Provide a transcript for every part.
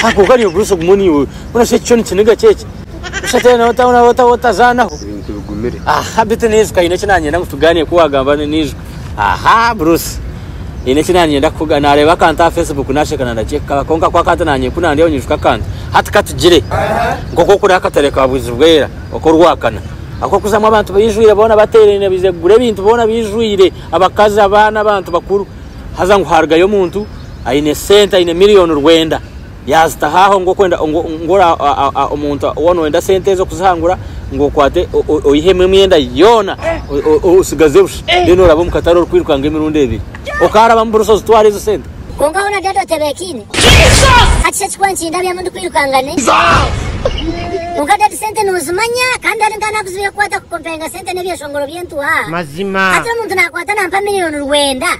Haha kwonka niiwe Bruce ogume ori iwe mbwenu shi ekishushani kiniga ki eki? Busha teera nawe ota otazaanaho. Ebintu bigumire. Aha beitu naijuka haine eki naanyenda ngu tugaaniire ku waagamba ni naijuka. Aha Bruce haine eki naanyenda kukuga naareeba akantu aha Facebook naasheka na ndakye kukaba kwonka ku akantu naanye ku naandeeba nyijuka akantu. Hati ka tugire nk'oku okuri aha katare ka Bwizibwera ok'Orwakana aku orikuzamu abantu baijwire boona bateeraine baije kugura ebintu boona baijwire abakazi, abaana, abantu bakuru. haza ngu haarugayo omuntu aine sente aine miriyoni rwenda yaazitaho aho ngu omuntu ou nooyenda sente ezo kuzihangura ngu okwate oihemu emyenda yoona otsigaze busha reero orabe omu katare orikwirukanga emirundi ebiri okaaraba mu buroso ozitware ezo sente Kwonka hoona dada otebeekiine hati shi ekikuba nikindabya ngu ndikwirukanga ne Kwonka dadi sente noozimanya kandi hari nk'ahu naakuzibiire kukwata kukompenga sente sente n'ebyeshongoro by'entuha. Mazima. Hati omuntu nakwata nampa miliyoni rwenda.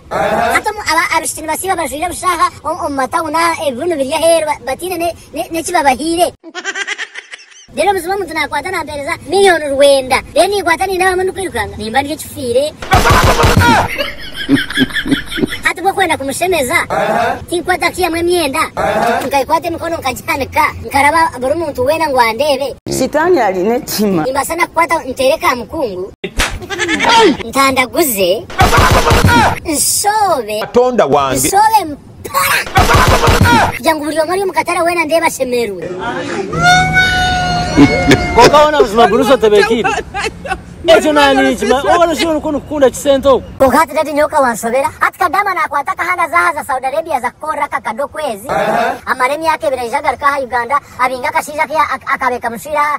Hati omu aba abishiki nibasiiba bajwaire busha aha o omu matawuni aha ebibunu biri aheeru ba bataine ne ne n'eki babahaire. Then obuziba omuntu nakwata nampereza miliyoni rwenda. Then ninkwata ninaaba mu ndikwirukanga nimba ndi ekifiire. Hati ku okwenda kumushemeza, tinkukwata ki emwe emyenda, nkagikwata emikono nkagihanika, nkaraba buri muntu weena ngu andeebe? Sitaani ari n'ekitima. Nimbaasa na kukwata nteere ka mukungu, ntandaguze, nshoobe, Katonda wange. nshoobe. kugira ngu buri omwe ari omu katare weena ndeebe ashemerwe. Kwonka hoona buzima guruza otebekiire ekyo naninkimanya oba noshuba nikwo nikukunda kisente oku. Kwonka hati daddy nyowe ka wanshobera hati kadama nakwata akahanda aza ahaza Saudi Arabia aza kukorera akakade okwezi amara emyaka ebiri aija agaruke aha Uganda abinge akashaija ke akabekamushwire aha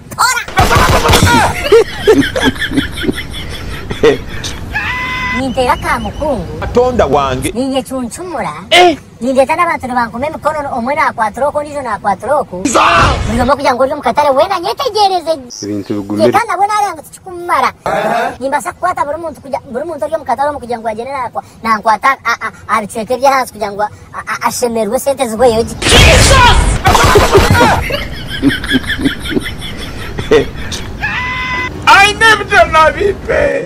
Ninteera ka mukungu. Katonda wange. Ninyecuncumura. Nindeeta n'abantu nibankoma emikono, omwe naakwatira oku ondiijo naakwatira oku, buri omwe kugira ngu ori omu katare weena anyetegyereze gye, kandi nabwo naareeba ngu tikirikumumara. Nimbaasa kukwata buri muntu ori omu katare omu kugira ngu agyende naakwata. nankwata aha bicweka ebyahansi kugira ngu ashemererwe sente zihweyo gye. Aine ebijanabi pee.